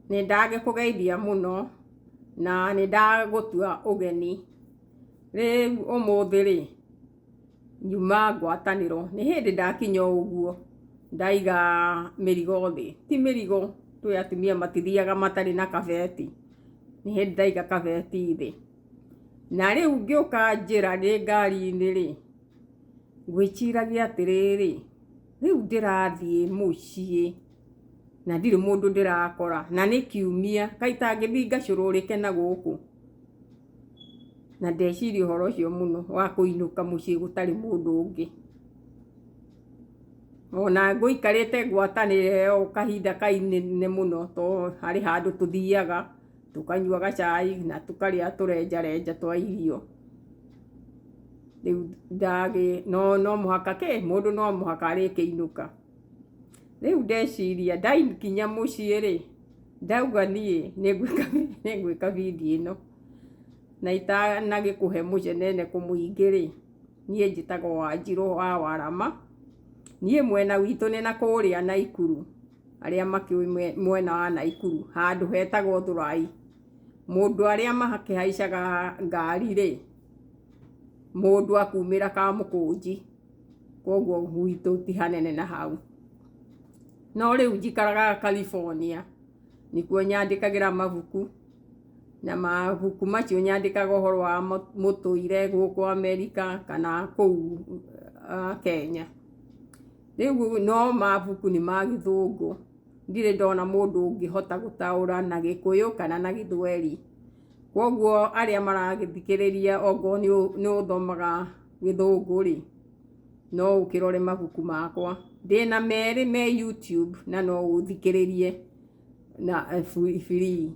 nĩ ndagĩkũgeithia mũno na nĩ ndagũtua ũgeni rĩu ũmũthĩ rĩ nyuma ngwatanĩro nĩ hĩndĩ ndakinya ũguo ndaiga mĩrigo thĩ ti mĩrigo twĩ atumia matithiaga matarĩ na kabeti nĩ hĩndĩ ndaiga kabeti thĩ na rĩu ngĩũka njĩra ndĩ ngari-inĩ rĩ ngwĩciragia atĩrĩrĩ rĩu ndĩrathiĩ mũciĩ na ndirĩ mũndũ ndĩrakora na nĩ kiumia kaĩ itangĩthiĩ ngacũrũrĩke na gũkũ na ndeciria ũhoro ũcio mũno wa kũinũka mũciĩ gũtarĩ mũndũ ũngĩ ona ngũikarĩte ngwatanĩre o kahinda kainene mũno to harĩ handũ tũthiaga tũkanyua gacai na tũkarĩa tũrenjarenja twa irio rĩu ndagĩ no no mũhaka kĩ mũndũ no mũhaka arĩkĩinũka rĩu ndeciria ndakinya mũciĩ rĩ ndauga niĩ nĩngwĩka nĩngwĩka video ĩno na itanagĩkũhe mũceneneko mũingĩ rĩ niĩ njĩtagwo wanjirũ wa warama niĩ mwena witũ nĩ na kũrĩa naikuru. arĩa makĩũĩ mwe- mwena wa naikuru handũ hetagwo thũrai mũndũ arĩa makĩhaicaga ngari rĩ mũndũ akumĩra kamũkũnji koguo gwitũ ti hanene na hau no rĩu njikaraga california nĩkuo nyandĩkagĩra mabuku na mabuku macio nyandĩkaga ũhoro wa mũ- mũtũire gũkũ amerika kana kũu ah, kenya rĩu no mabuku nĩ ma gĩthũngũ ndirĩ ndona mũndũ ũngĩhota gũtaũra na gĩkũyũ kana na gĩthweri kwoguo arĩa maragĩthikĩrĩria okorwo nĩ ũthomaga gĩthũngũ rĩ no ũkĩrore mabuku makwa ndĩna merĩ me YouTube na no ũthikĩrĩrie. na bibiri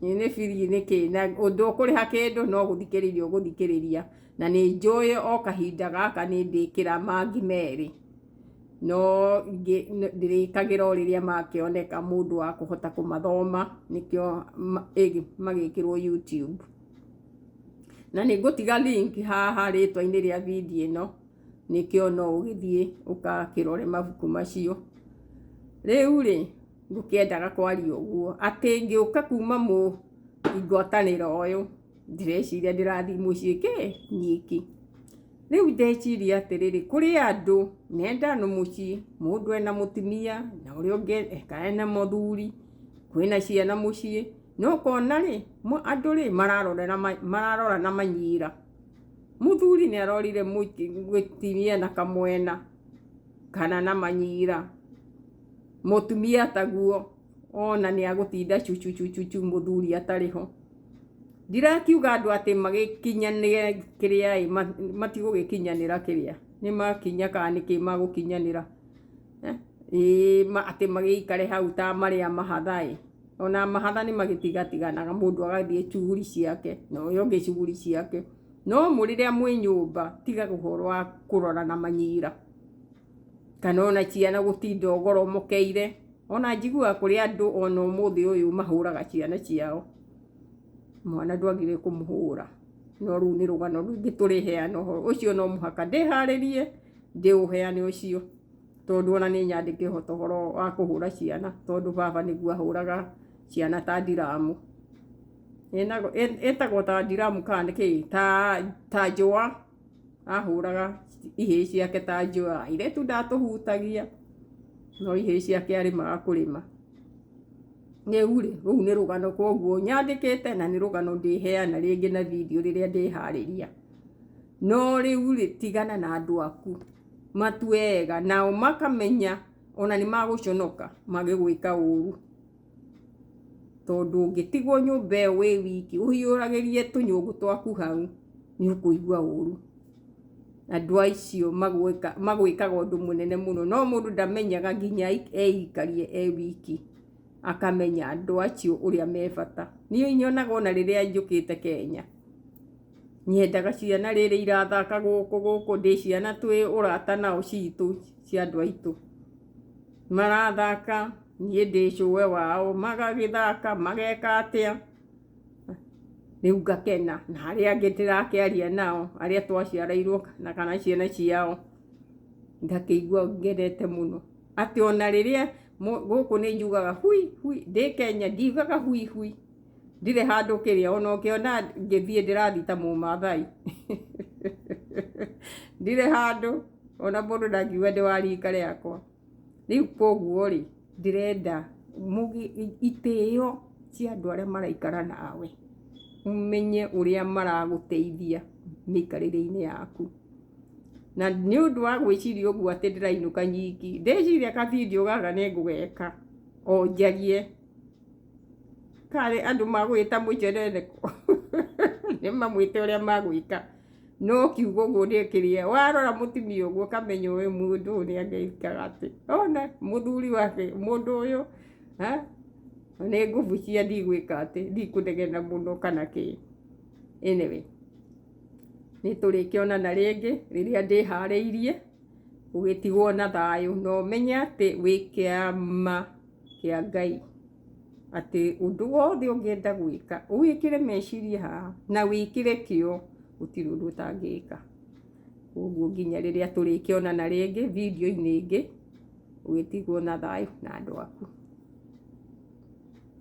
nĩ bibiri nĩ kĩĩ na ũndũ ũkũrĩha kĩndũ no gũthikĩrĩria ũgũthikĩrĩria na nĩ njũĩ o kahinda gaka nĩ ndĩkĩra mangi merĩ no ndĩrĩkagĩra o rĩrĩa makĩoneka mũndũ wa kũhota kũmathoma nĩkĩo magĩkĩrwo YouTube na nĩ ngũtiga link haha rĩtwa-inĩ rĩa video ĩno. nĩkĩo no ũgĩthiĩ ũgakĩrore mabuku macio. Rĩu-rĩ, ngũkĩendaga kwaria ũguo, atĩ ngĩũka kuma ngwatanĩro ũyũ, ndĩreciria ndĩrathiĩ mũciĩ kĩ? Nyiki. Rĩu ndeciria atĩrĩrĩ, kũrĩ andũ menda nĩ mũciĩ, mũndũ ena mũtumia, na ũrĩa ũngĩ eka ena mũthuri, kwĩna ciana mũciĩ, na ũkona-rĩ, andũ-rĩ, mararorana manyira. Mũthuri nĩ arorire gwĩtinia na kamwena kana na manyira. Mũtumia taguo ona nĩ agũtinda cucucucucu mũthuri atarĩ ho. Ndirakiuga andũ atĩ magĩkinyanĩre kĩrĩa ĩ, matigũgĩkinyanĩra kĩrĩa, nĩ makinya kana nĩ kĩ magũkinyanĩra. Ĩĩ atĩ magĩikare hau ta marĩa mahatha ĩ. ona mahatha nĩ magĩtigatiganaga mũndũ agathiĩ cuguri ciake na ũyũ ũngĩ cuguri ciake no mũrĩrĩa mwĩ nyũmba tiga ũhoro wa kũrora na manyira kana ona ciana gũtinda ũgoromokeire ona njiguaga kũrĩ andũ ona ũmũthĩ ũyũ mahũraga ciana ciao mwana ndwagĩrĩire kũmũhũra no rũu nĩ rũgano rũngĩ tũrĩheana ũhoro ũcio no mũhaka ndĩharĩrie ndĩũheane ũcio. tondũ ona nĩ nyandĩke ũhoro wa kũhũra ciana tondũ baba nĩguo ahũraga ciana ta ndiramu ĩtagwo ta ndiramu kana nĩ kĩĩ ta njũa ahũraga ihĩĩ ciake ta njũa airĩtu ndatũhutagia no ihĩĩ ciake arĩmaga kũrĩma rĩu rĩ rũu nĩ rũgano koguo nyandĩkĩte na nĩ rũgano ndĩheana rĩngĩ na video rĩrĩa ndĩharĩria. No rĩu-rĩ, tigana na andũ aku, matue ega, nao makamenya o na nĩmagũconoka magĩgwĩka ũru. Tondũ ndũngĩtigwo nyũmba ĩyo wĩ wiki, ũhiũragĩrie tũnyũngũ twaku hau, nĩ ũkũigua ũru. Andũ acio magwĩkaga ũndũ mũnene mũno, no mũndũ ndamenyaga nginya eikarie e wiki, akamenya andũ acio ũrĩa me bata. Niĩ nyonaga o na rĩrĩa njũkĩte Kenya. Nyendaga ciana rĩrĩ irathaka gũkũ gũkũ ndĩ ciana twĩ ũrata nao citũ cia andũ aitũ. Marathaka niĩ ndĩ cũwe wao magagĩthaka mageka atĩa rĩu ngakena na arĩa angĩ ndĩrakĩaria nao arĩa twaciarairwo na kana ciana ciao ngakĩigua ngenete mũno. Atĩ ona rĩrĩa gũkũ nĩ njugaga hui hui ndĩ Kenya ndiugaga hui hui. ndirĩ handũ kĩrĩa ona ũkĩona ngĩthiĩ ndĩrathita mũmathai ndirĩ handũ ona mũndũ ndangiuga ndĩ wa rika rĩakwa rĩu koguo rĩ ndĩrenda itĩo cia andũ arĩa maraikara nawe ũmenye ũrĩa maragũteithia mĩikarĩre-inĩ yaku na nĩ ũndũ wa gwĩciria ũguo atĩ ndĩrainũka nyiki ndĩciria ka video gaka nĩ ngũgeka o njarie Karĩ andũ magwĩta mũnjenereko nĩ mamwĩte ũrĩa magwĩka no kiugo ũguo nĩ kĩrĩa warora mũtumia ũguo ũkamenya ũyũ mũndũ ũyũ nĩ angĩkaga atĩ ona mũthuri wake mũndũ ũyũ ha nĩ nguvu cia ndigwĩka atĩ ndikũnegena mũno kana kĩ anyway nĩ tũrĩkĩonana rĩngĩ rĩrĩa ndĩharĩirie ũgĩtigwo na thayũ na ũmenye atĩ wĩkĩama kĩa Ngai atĩ ũndũ wothe ũngĩenda gwĩka ũwĩkĩre meciria haha na wĩkĩre kĩo gũtirĩ ũndũ ũtangĩka. Ũguo nginya rĩrĩa tũrĩkĩonana rĩngĩ video-inĩ ĩngĩ ũgĩtigwo na thayũ na andũ aku.